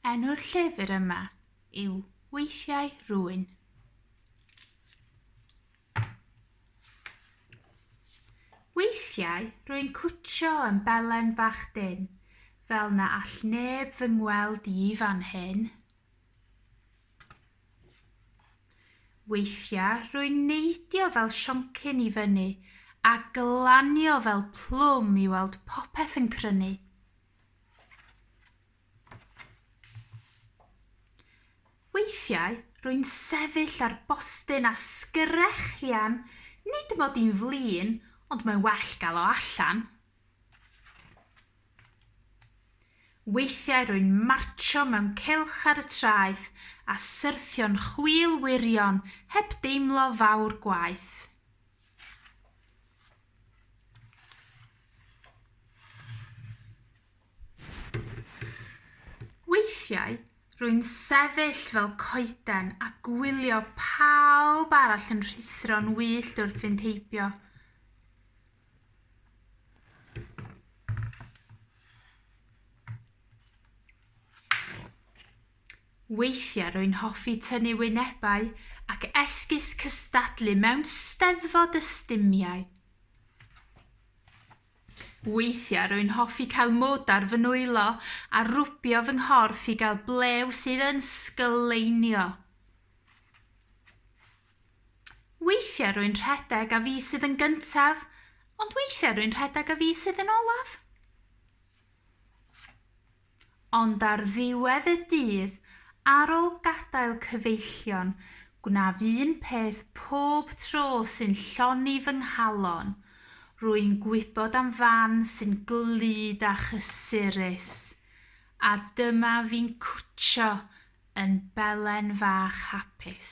Enw'r llyfr yma yw Weithiau Rhywun. Weithiau rwy'n cwtio yn belen fach dyn, fel na all neb fy ngweld i fan hyn. Weithiau rwy'n neidio fel sioncyn i fyny a glanio fel plwm i weld popeth yn crynu. Weithiau, rwy'n sefyll ar bostyn a sgrechian, nid mod i'n flin, ond mae'n well gael o allan. Weithiau rwy'n martsio mewn cylch ar y traeth a syrthio'n chwil wirion heb deimlo fawr gwaeth. Weithiau, rwy'n sefyll fel coeden a gwylio pawb arall yn rhuthro'n wyllt wrth fynd heibio. Weithiau rwy'n hoffi tynnu wynebau ac esgus cystadlu mewn Steddfod y Stumiau. Weithiau rwy'n hoffi cael mwd ar fy nwylo a rwbio fy nghorff i gael blew sydd yn sgleinio. Weithiau rwy'n rhedeg a fi sydd yn gyntaf, ond weithiau rwy'n rhedeg a fi sydd yn olaf. Ond ar ddiwedd y dydd, ar ôl gadael cyfeillion, gwnaf un peth pob tro sy'n lloni fy nghalon, rwy'n gwybod am fan sy'n glyd a chysurus, a dyma fi'n cwtsio yn belen fach hapus.